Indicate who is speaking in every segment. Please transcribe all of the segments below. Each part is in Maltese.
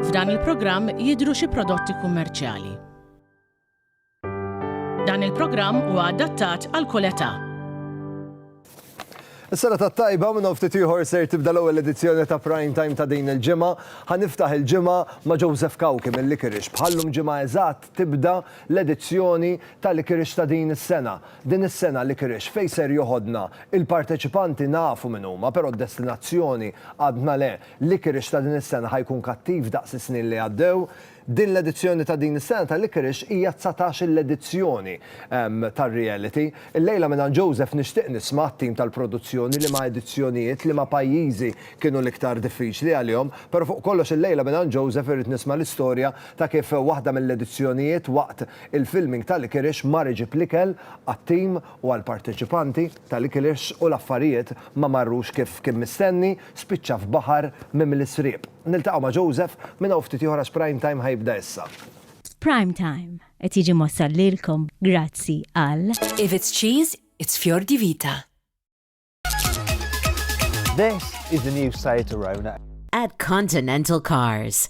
Speaker 1: F'dan il-programm jidhru xi prodotti kummerċjali. Dan il-programm huwa adattat għal kull età.
Speaker 2: Is-sena ta' tajba minn ftit ieħor ser tibda l-ewwel edizzjoni ta' Prime Time ta' din il-ġimgħa. Ħaniftaħ il-ġimgħa ma' Joseph Kawki mill-Likirix. Bħallum ġimgħa eżatt tibda l-edizzjoni ta' Likirix ta' din is-sena. Din is-sena Liquorice fejn ser joħodna? Il-parteċipanti nafu min huma, però d-destinazzjoni għadna le. Liquorice ta' din is-sena ħa jkun kattiv daqs is-snin li għaddew. Din l-edizzjoni ta' din is-sena ta' Liquorice hija dsatax-il edizzjoni tar-reality. Illejla mingħand Joseph nixtieq nisma' t-tim tal-produzzjoni liema edizzjonijiet, liema pajjiżi kienu l-iktar diffiċli għalihom. Però fuq kollox illejla mingħand Joseph irrid nisma' l-istorja ta' kif waħda mill-edizzjonijiet waqt Il-filming ta' Licorice mar iġib l-ikel għat-tim u għall-parteċipanti ta' Licorice u l-affarijiet ma marrux kif kien mistenni, spiċċa f'baħar mimli sriep. Niltaqgħu ma' Joseph minn hawn ftit ieħor għax Prime Time ħa jibda issa. Prime
Speaker 3: Time qed jiġi mwassal lilkom grazzi għal. If it's cheese,
Speaker 4: it's Fior di Vita.
Speaker 5: This is the new Seat Arona. At Continental
Speaker 4: Cars.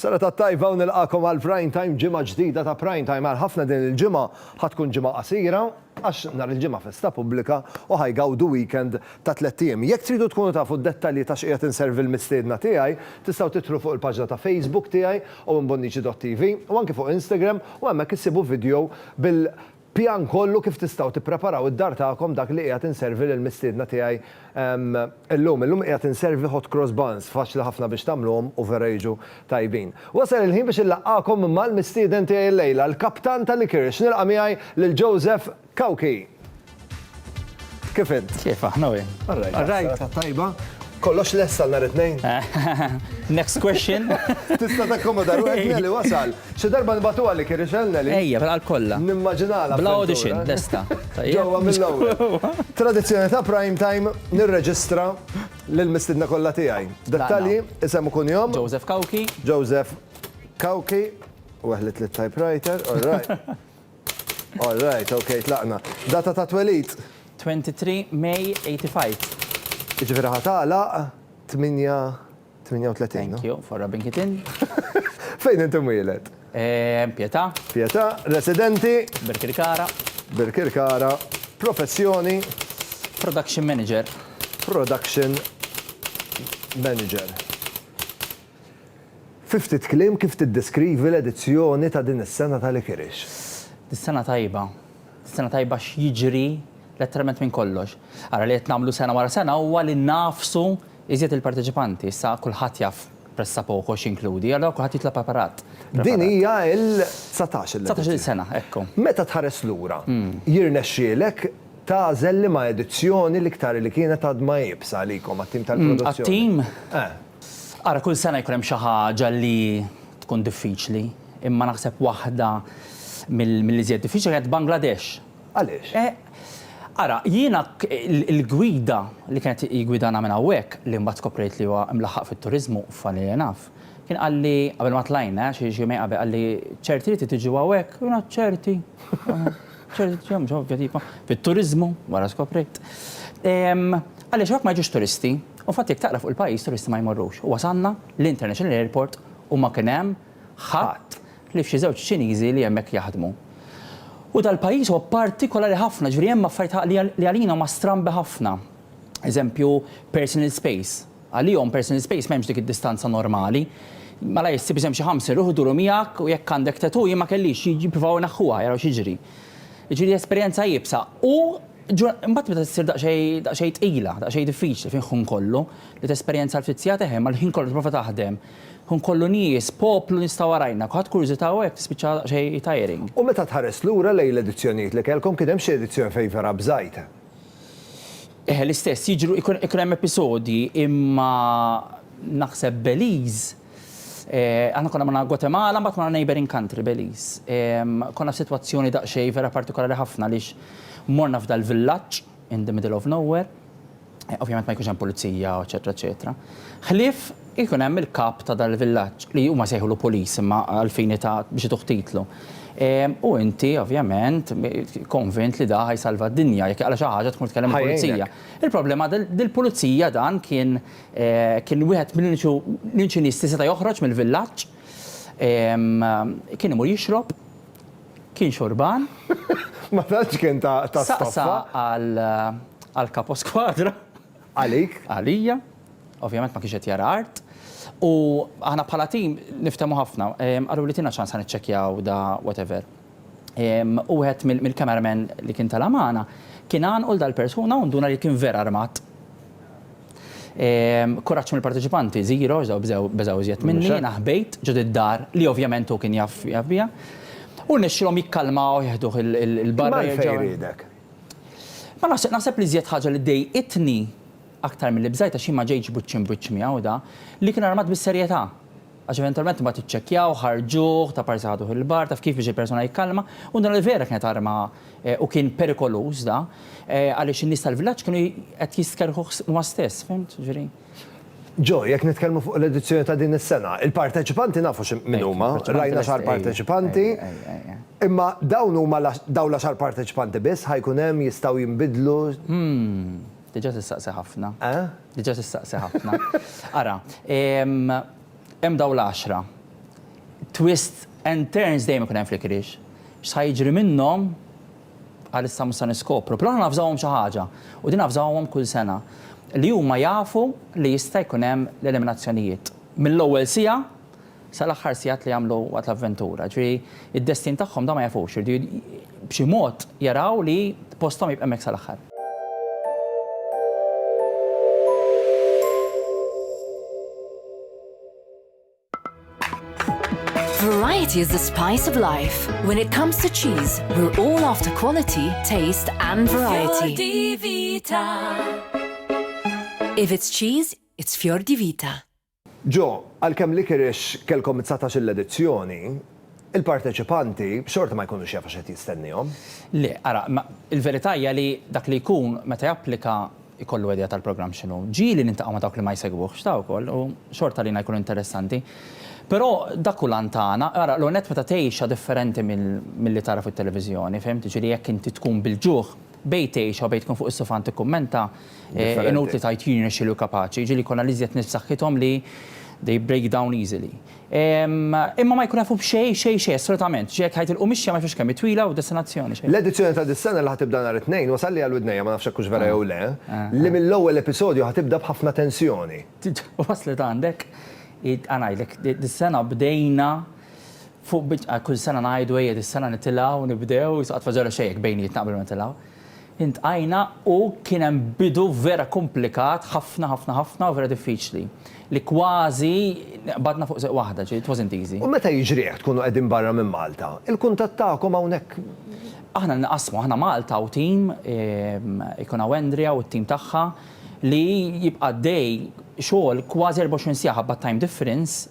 Speaker 2: Sena tat-tajba u nilqagħkom għal Prime Time, ġimgħa ġdida ta' Prime Time. Għal ħafna din il-ġimgħa ħa tkun ġimgħa qasira għax nhar il-Ġimgħa festa pubblika u ħa jgawdu weekend ta' tlett ijiem. Jekk tridu tkunu tafu d-dettalji ta' x'qiegħed inservi l-mistiedna tiegħi, tistgħu tidħlu fuq il-paġna ta' Facebook tiegħi, owenbonnici.tv, u anki fuq Instagram u hemmhekk issibu video bil Pjan kollu kif tistgħu tippreparaw id-dar tagħkom dak li qiegħed inservi lill-mistiedna tiegħi llum. Illum qiegħed inservi hot cross buns, faċli ħafna biex tagħmluhom u vera jiġu tajbin. Wasal il-ħin biex inlaqqagħkom mal-mistieden tiegħi llejla, l-kaptan tal-ikirix. Nilqa' miegħi lil Joseph Cauchi. Kif int? Kif aħna wien? All
Speaker 6: right. All right. Tajba.
Speaker 2: Kollox lessa l-nar it-tnejn? Next
Speaker 6: question. Tista ta' komoda
Speaker 2: ruħek li wasal. Xi darba nbatu għalik irixel li. Ejja, għal kollha.
Speaker 6: Nimmaġinala. Bla
Speaker 2: audition, lesta.
Speaker 6: Ġewwa mill-ewwel.
Speaker 2: Tradizzjoni ta' prime time nirreġistra lil mistidna kollha tiegħi. Dettalji isem ikun jom. Joseph Kawki.
Speaker 6: Joseph
Speaker 2: Kawki. Weħlet li typewriter, all right. All right, ok, tlaqna. Data ta' twelid? 23
Speaker 6: May 85. Jiġifieri ħa
Speaker 2: tagħlaq 8:38. Thank you for
Speaker 6: rubbing it in. Fejn int
Speaker 2: imwieled? Pietà.
Speaker 6: Pietà,
Speaker 2: residenti? Birkirkara.
Speaker 6: Birkirkara,
Speaker 2: professjoni?
Speaker 6: Production manager. Production
Speaker 2: manager. Fi ftit kliem kif tiddeskrivi l-edizzjoni ta' din is-sena ta' Lickerish? Sena
Speaker 6: tajba. Sena tajba għax jiġri letteralment minn kollox. Ara li qed nagħmlu sena wara sena huwa li ngħafsu iżjed il-parteċipanti. Issa kulħadd jaf pressa poco x'jinkludi, allura kulħadd jitla' preparat. Din hija
Speaker 2: l-dsatax il-edizzjoni. Dsatax il-sena,
Speaker 6: ekku. Meta tħares lura,
Speaker 2: jirnexxielek tagħżel liema edizzjoni l-iktar li kienet għadma iebsa għalikom għat-tim tal-produzzjoni? Għat-tim? Eh.
Speaker 6: Ara kull sena jkun hemm xi ħaġa li tkun diffiċli, imma naħseb waħda mill-iżjed diffiċli kienet Bangladesh. Għaliex?
Speaker 2: Ara,
Speaker 6: jiena l-gwida li kienet jgwidana minn hawnhekk, li mbagħad skoprejt li huwa mlaħħaq fit-turiżmu, funny enough, kien qalli, qabel ma tlajna, xi jumejn qabel, qalli, ċerti li trid tiġu hawnhekk? U jiena, ċerti. Fit-turiżmu, wara skoprejt. Għaliex hawnhekk ma jiġux turisti. U fatt jekk taqra fuq il-pajjiż turisti ma jmorrux. U wasalna l-International Airport u ma kien hemm ħadd ħlief xi żewġ Ċiniżi li hemmhekk jaħdmu. U dal-pajjiż huwa partikolari ħafna, ġifieri hemm affarijiet li għalina huma strambi ħafna. Eżempju, personal space. Għalihom personal space m'hemmx dik id-distanza normali. Malajr issib isem xi ħamsin ruħ iduru miegħek u jekk għandek tattoo jien ma kellix, jippruvaw ineħħuha jaraw x'jiġri. Jiġifieri esperjenza iebsa. U Ġura, imbagħad meta ssir daqsxejn, daqsxejn tqila, daqsxejn diffiċli fejn ħin kollu, li tesperjenza l-ftit sigħat eħe, imma l-ħin kollu tipprova taħdem, ħin kollu nies, poplu nista' warajna, kulħadd kurjużità u hekk tispiċċa daqsxejn tiring. U meta tħares lura
Speaker 2: lejn l-edizzjonijiet li kellkom, kien hemm xi edizzjoni fejn vera bżajt? Eħe, l-istess,
Speaker 6: jiġru, ikun hemm episodji, imma naħseb Belize, Aħna konna ma' Guatemala, mbagħad ma' neighboring country, Belize. Konna f'sitwazzjoni daqsxejn vera partikolari ħafna għaliex morna f'dal-villaġġ in the middle of nowhere. Ovvjament ma jkunx hemm pulizija, eċċetera, eċċetera. Ħlief ikun hemm il-kap ta' dal-villaġġ, li huma jsejħulu police imma għall-fini ta' biex ituh titlu. U inti, ovvjament, konvint li da ħa jsalva d-dinja, jekk jaqla' xi ħaġa tmur tkellem il-pulizija. Il-problema dil-pulizija dan kien Kien wieħed mill-uniċi nies li seta' joħroġ mill-villaġġ. Kien imur jixrob, kien xorban. Ma tantx
Speaker 2: kien ta' stoffa. Saqsa
Speaker 6: għall-Kapo Skwadra. Għalik?
Speaker 2: Għalija.
Speaker 6: Ovvjament ma kienx qed jara art. U aħna bħala tim niftehmu ħafna. Qaluli tina ċans ħa niċċekkjaw da whatever. wieħed mill-camera men li kien tela' magħna kien għanqu 'l dal-persuna u nduna li kien vera armat. Kuraġġ mill-parteċipanti żero għax beżgħu iżjed minni, jiena ħbejt ġod id-dar li ovvjament hu kien jaf biha u rnexxielhom jikkalmawh jeħduh 'l barra jerġgħu. Imma għalfejn riedek?
Speaker 2: Ma
Speaker 6: nafx, naħseb li iżjed ħaġa li dejqitni aktar milli bżajt għax jien ma ġejtx wiċċ imb wiċċ miegħu da, li kien armat bis-serjetà. Għax eventualment imbagħad iċċekkjaw, ħarġuh, ta' parsi ħaduh il-bar, taf kif biex il-persuna jikkalma, u naraw li vera kienet arma u kien perikoluż da, għaliex in-nies tal-villaġġ kienu qed jistkerrħuh huma stess, fhimt? Jiġifieri. Joe,
Speaker 2: jekk nitkellmu fuq l-edizzjoni ta' din is-sena, il-parteċipanti nafu min huma, rajna xahar parteċipanti, imma dawn huma dawn l-għaxar parteċipanti biss, ħa jkun hemm, jistgħu jinbidlu?
Speaker 6: Diġà tistaqsi ħafna. Eħ? Diġà tistaqsi ħafna. Ara, hemm dawn l-għaxra. Twist and turns dejjem ikun hemm fl-ikriġ. X'sa jiġri minnhom għalissa mhux se niskopru. Però aħna nafżawhom xi ħaġa, u din nafżawhom kull sena, li huma jafu li jista' jkun hemm l-eliminazzjonijiet. Mill-ewwel siegħa sal-aħħar sigħat li jagħmlu waqt l-avventura. Ġifieri id-destin tagħhom dawn ma jafux, iridu b'xi mod jaraw li posthom jibqa' hemmhekk sal-aħħar.
Speaker 4: Variety is the spice of life. When it comes to cheese, we're all after quality, taste and variety. Fior di Vita. If it's cheese, it's Fior di Vita. Ġo,
Speaker 2: għalkemm Liquorice kellkom it-dsatax-il edizzjoni, il-parteċipanti xorta ma jkunux jafu x'qed jistennihom. Le, ara, imma
Speaker 6: l-verità hija li dak li jkun meta japplika jkollu idea tal-programm x'inhu. Ġieli niltaqgħu ma' dawk li ma jsegwuhx ta' wkoll u xorta għalina jkun interessanti. Però dak hu l-għan tagħna. Ara, l-ewwel nett meta tgħixha differenti milli tara fit-televiżjoni, fhimt? Jiġifieri jekk inti tkun bil-ġuħ, Bejn tgħix jew bejn tkun fuq is-sufan tikkummenta, inutli tgħid jien irnexxieli u kapaċi, jiġifieri jkollna l-iżjed nies b'saħħithom li they break down easily. Imma ma jkun jafu b'xejn, xejn, xejn, assolutament. Ġieli jekk ħajt il-qumixja ma jafux kemm hi twila u destinazzjoni, xejn. L-edizzjoni ta' dis-sena
Speaker 2: li ħa tibda nhar it-Tnejn wasalli għal widnejja, ma nafx hekk hux vera jew le, li mill-ewwel episodju ħa tibda b'ħafna tensjoni. Waslet
Speaker 6: għandek, ħa ngħidlek, dis-sena bdejna Fuq bidqa kull sena ngħidu ejja dis-sena nitilgħu, nibdew, jisqat fa' żero xejn jekk bejnietna qabel ma nitilgħu. Intqajna u kien hemm bidu vera kumplikat ħafna ħafna ħafna u vera diffiċli li kważi qbadna fuq sieq waħda, ġifieri it wasn't easy. U meta jiġri hekk tkunu
Speaker 2: qegħdin barra minn Malta, il-kuntatt tagħkom hawnhekk? Aħna nqassmu,
Speaker 6: aħna Malta u tim, ikun hawn Andrea u t-tim tagħha li jibqa' għaddej xogħol kważi 24 siegħa ħabba t-time difference,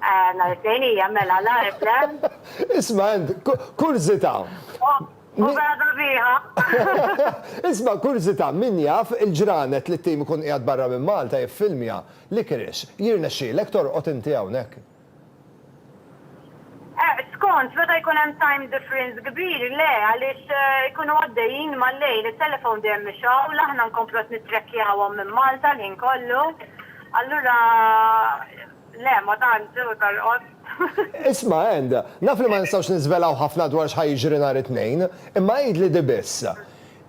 Speaker 2: Eh,
Speaker 7: nhar it-tnejn hija mela l-għarb le. Isma' għand
Speaker 2: kurżità. U
Speaker 7: bada biha.
Speaker 2: Isma' kurżità min jaf il-ġranet li t-tim ikun qiegħed barra minn Malta jiffilmja, licorice, jirnexxielek torqod inti hawnhekk?
Speaker 7: Skont, meta jkun hemm time difference kbir, le, għaliex ikunu għaddejjin mal-lejl, it-telephone dejjem mixgħul, aħna nkomplu qed nittrackjawhom minn Malta l-ħin kollu, allura le, ma tantx hu tal-qost. Isma',
Speaker 2: Ann, naf li ma nistgħux niżvelaw ħafna dwar x'ħa jiġri nhar it-Tnejn, imma għidli di biss,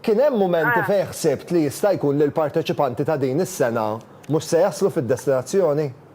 Speaker 2: kien hemm mumenti fejn ħsibt li jista' jkun li l-parteċipanti ta' din is-sena mhux se jaslu fid-destinazzjoni?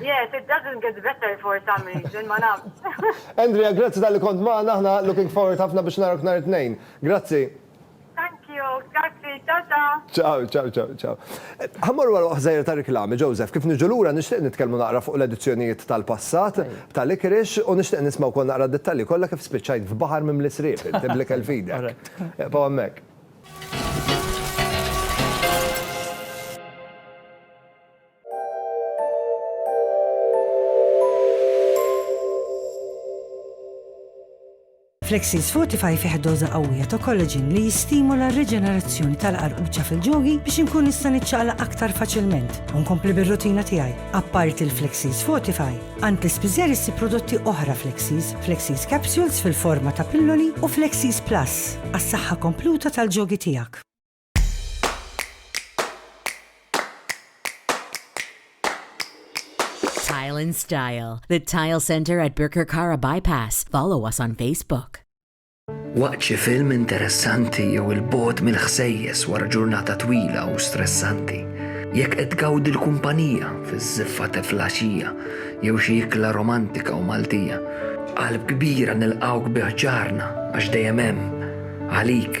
Speaker 2: Yes,
Speaker 7: it doesn't get better for some reason, ma nafx. Andrea, grazzi
Speaker 2: tal-li kont maħna, ħna looking forward ħafna biex narak nar it-tnejn. Grazzi.
Speaker 7: Thank you, grazzi, ciao ciao. Ciao, ciao, ciao,
Speaker 2: ciao. Ħammorru għal waħżajr ta' riklami, Joseph, kif niġu lura nixtieq nitkellmu naqra fuq l-edizzjonijiet tal-passat ta' Licorice u nixtieq nisma' wkoll naqra d-dettalji kollha kif spiċċajt f'baħar mimli sriep inti bl-ikel f'idek. Eqbgħu hemmhekk.
Speaker 8: Flexis Fortify fih doża qawwija ta' collagen li jistimula r-riġenerazzjoni tal-qarquċa fil-ġogi biex inkun nista' niċċaqlaq aktar faċilment u nkompli bir-rutina tiegħi. Apparti l-Flexis Fortify, għand l-ispiżer issib prodotti oħra Flexis, Flexis Capsules fil-forma ta' pilloli u Flexis Plus għas-saħħa kompluta tal-ġogi tiegħek.
Speaker 9: Tile and Style, the Tile Center at Birkirkara Bypass. Follow us on Facebook. Waqt
Speaker 10: xi film interessanti jew il-bot mill-ħsejjes wara ġurnata twila u stressanti. Jekk qed tgawdi l-kumpanija fiż-żiffa teflaxija jew xi ikla romantika u Maltija. Qalb kbira nilqawk biħġarna għax dejjem hemm għalik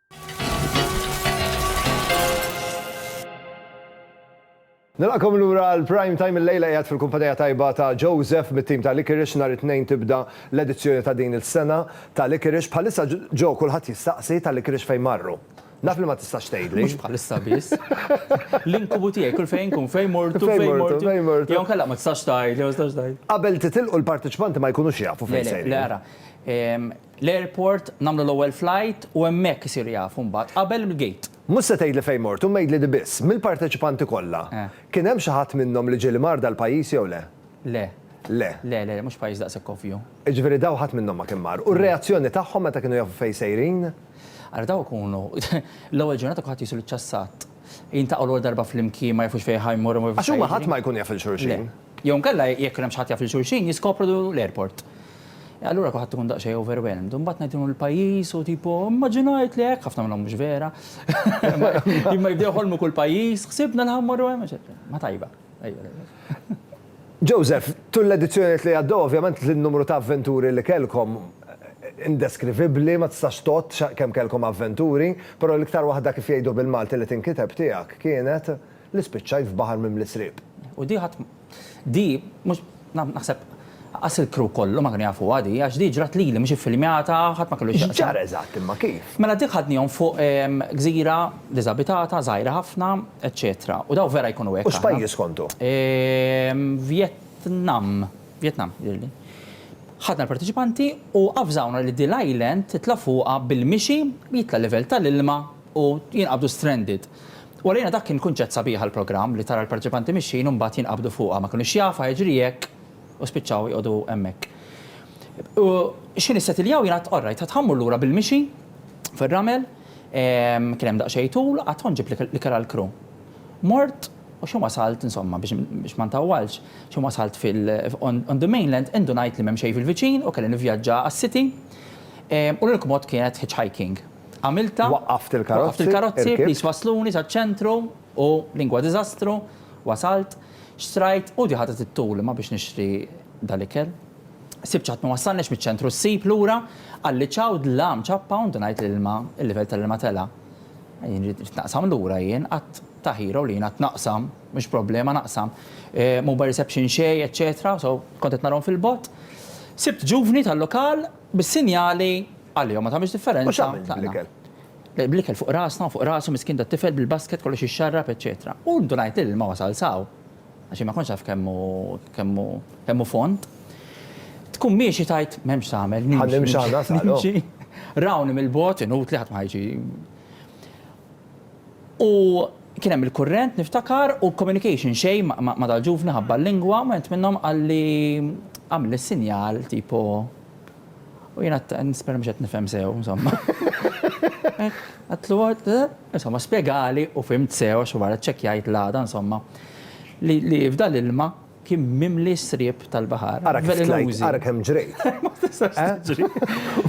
Speaker 2: Nilqakom lura għal Prime Time il-lejla qiegħed fil-kumpanija tajba ta' Joseph mit-tim ta' Liquorice nhar it-Tnejn tibda l-edizzjoni ta' din is-sena ta' Liquorice. Bħalissa Joe kulħadd jistaqsi ta' Liquorice fejn marru. Naf li ma tistax tgħidli. Mhux bħalissa biss.
Speaker 6: L-inkubu tiegħi kull fejn inkun fejn mortu fejn mortu fejn mortu. Jew inkella ma tistax tgħidli ma tistax tgħidli. Qabel titilqu
Speaker 2: l-parteċipanti ma jkunux jafu fejn sejrin. Le le le ara.
Speaker 6: L-airport, nagħmlu l-ewwel flight u hemmhekk isiru jafu mbagħad, qabel il-gate. Mhux se tgħidli fejn mort,
Speaker 2: imma għidli di biss, mill-parteċipanti kollha, kien hemm xi ħadd minnhom li ġie li mar dal-pajjiż jew le? Le. Le. Le, le, mhux pajjiż daqshekk ovvju.
Speaker 6: Jiġifieri daw ħadd minnhom
Speaker 2: ma kien mar. U r-reazzjoni tagħhom meta kienu jafu fejn sejrin? Ara daw
Speaker 6: ikunu, l-ewwel ġurnata kulħadd jisu l-ċassat. Jiltaqgħu l-ewwel darba flimkien, ma jafux fejn ħa jmorru, ma jafux x'ħa jiġri. Għax huma ħadd ma jkun jaf lil
Speaker 2: xulxin.
Speaker 6: Le. Jew
Speaker 2: inkella
Speaker 6: jekk kien hemm xi ħadd
Speaker 2: jaf lil
Speaker 6: xulxin
Speaker 2: jiskopru l-airport.
Speaker 6: Allura kulħadd ikun daqsxejn overwhelmed. U mbagħad ngħidilhom il-pajjiż u tipo immaġinajt li hekk, ħafna minnhom mhux vera. Imma jibdew iħolmu kull pajjiż, ħsibna li ħa mmorru hemm, eċetera. Ma tajba.
Speaker 2: Joseph, tul l-edizzjonijiet li għaddew ovvjament l-numru ta' avventuri li kellkom indeskrivibbli, ma tistax tgħodd kemm kellkom avventuri, però l-iktar waħda kif jgħidu bil-Malti li tinkiteb tiegħek kienet. Li spiċċaj f'baħar mimli sriep. U di ħadd
Speaker 6: di mhux naħseb Lanqas il-crew kollu ma kienu jafuha di, għax di ġrat lili mhux iffilmjata, ħadd ma kellu x'jaqsam. X'ġara eżatt imma kif?
Speaker 2: Mela dik ħadnihom fuq
Speaker 6: gżira diżabitata, żgħira ħafna, eċċetera. U dawn vera jkunu hekk. U x'pajjiż kontu?
Speaker 2: Vjetnam.
Speaker 6: Vjetnam, jidhirli. Ħadna l-parteċipanti u avżawna li di l-island titla' fuqha bil-mixi jitla' l-livell tal-ilma u jinqabdu stranded. U għalina dak kien kunċett sabiħ għall-programm li tara l-parteċipanti mixjin u mbagħad jinqabdu fuqha, ma kinux jafu x'ħajġri jekk u spiċċaw joqogħdu hemmhekk. U x'ħin issetiljaw jien għad, orrajt, għad ħa mmur lura bil-mixi fir-ramel, kien hemm daqsxejn tul, għad ħa nġib l-ikel għall-crew. Mort u x'ħin wasalt, insomma, biex ma ntawwalx, x'ħin wasalt fil, on the mainland, indunajt li m'hemm xejn fil-viċin u kelli nivvjaġġa għas-city u l-unika mod kienet hitchhiking. għamiltha. Waqqaft il-karozzi. Waqqaft
Speaker 2: il-karozzi, please wassluni
Speaker 6: saċ-ċentru u lingwa diżastru, wasalt, xtrajt u di ħadet it-tul imma biex nixtri dal-ikel. Sibt x'ħadd ma wassalniex miċ-ċentru ssib lura, qalli ċaw dlam ċappa u ndunajt li l-ilma, il-livell tal-ilma tela'. Jien rid naqsam lura jien, qatt ta' hero li jien qatt naqsam, mhux problema naqsam. Mobile reception xejn, eċċetera, so kont qed narahom fil-bogħod. Sibt ġuvni tal-lokal bis-sinjali. Għalihom ma tagħmilx differenza. U x'għamilt bl-ikel? Bl-ikel fuq rasna u fuq rasu miskin tat-tifel bil-basket kollox ixxarrab eċċetera. U ndunajt li l-ilma wasal s'hawn. Għax jien ma kontx naf kemm hu kemm hu kemm hu fond. Tkun miexi tgħid m'hemmx x'tagħmel nimxi. Ħa nimxi ħa nasal. Nimxi.
Speaker 2: Rawni
Speaker 6: mill-bogħod, inutli ħadd ma ħa jiġi. U kien hemm il-kurrent niftakar u communication xejn ma' dal-ġuvni ħabba l-lingwa, wieħed minnhom qalli għamilli sinjal tipo. U jien għadt, nispera mhux qed nifhem sew, insomma. Għadtlu, insomma, spjegali u fhimt sew għax wara ċċekkjajt l-għada, insomma, li f'dan l-ilma kien mimli s-sriep tal-baħar. Ara kif tlajt, ara kemm
Speaker 2: ġrejt. Ma tistax tiġri.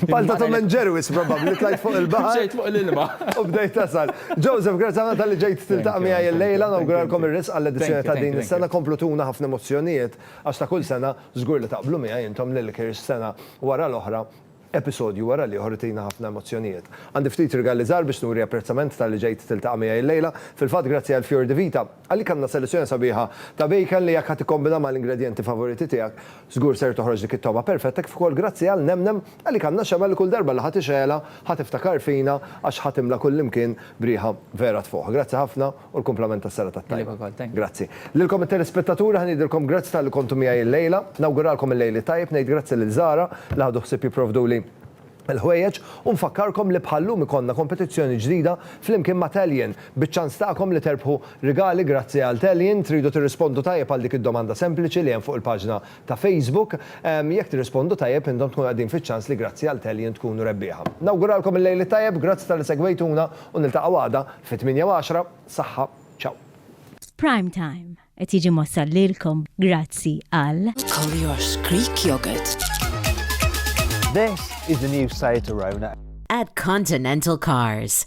Speaker 2: Bħal ta' Tom and Jerry wisq probabbli tlajt fuq il-baħar. Ġejt fuq l-ilma.
Speaker 6: U bdejt tasal.
Speaker 2: Joseph, grazzi ħafna talli ġejt tiltaqa' miegħi llejla, nawguralkom ir-risq għall-edizzjoni ta' din is-sena, komplu tuna ħafna emozzjonijiet għax ta' kull sena Żgur li taqblu miegħi intom li Lickers sena wara l-oħra, episodju wara l-ieħor itina ħafna emozzjonijiet. Għandi ftit rigali żgħar biex nuri apprezzament talli ġejt tiltaqa' miegħi llejla. Fil-fatt grazzi għal Fior di Vita, għalik għandna selezzjoni sabiħa ta' bacon li jekk ħa tikkombina mal-ingredjenti favoriti tiegħek, żgur ser toħroġ dik it-togħma perfetta kif ukoll grazzi għal Nem Nem, għalik għandna xemgħa li kull darba li ħa tixgħelha ħa tiftakar fina għax ħa timla kullimkien b'riħa vera tfuħ. Grazzi ħafna. U l-kumplament tas-serata t-tajba. Lilek ukoll, thank you. Grazzi. Lilkom it-telespettaturi ħa ngħidilkom grazzi talli kontu miegħi illejla. Nawguralkom il-Lejl it-Tajjeb, ngħid grazzi lil Zara li ħadu ħsieb jipprovduli l-ħwejjeġ u nfakkarkom li bħal-lum ikollna kompetizzjoni ġdida flimkien ma' Tallien biċ-ċans tagħkom li terbħu rigali grazzi għal Tallien. Tridu tirrispondu tajjeb għal dik id-domanda sempliċi li hemm fuq il-paġna ta' Facebook. Jekk tirrispondu tajjeb intom tkunu qegħdin fiċ-ċans li grazzi għal Tellion tkunu rebbieħa. Nawguralkom il-lejl it-tajjeb, grazzi talli segwejtuna u niltaqgħu għada fit-tmienja u għaxra. Saħħa, ċaw. Prime
Speaker 3: Time qed jiġi mwassal lilkom grazzi għal. Colliers Greek
Speaker 4: Yogurt.
Speaker 5: This is the new Seat Arona. At Continental
Speaker 9: Cars.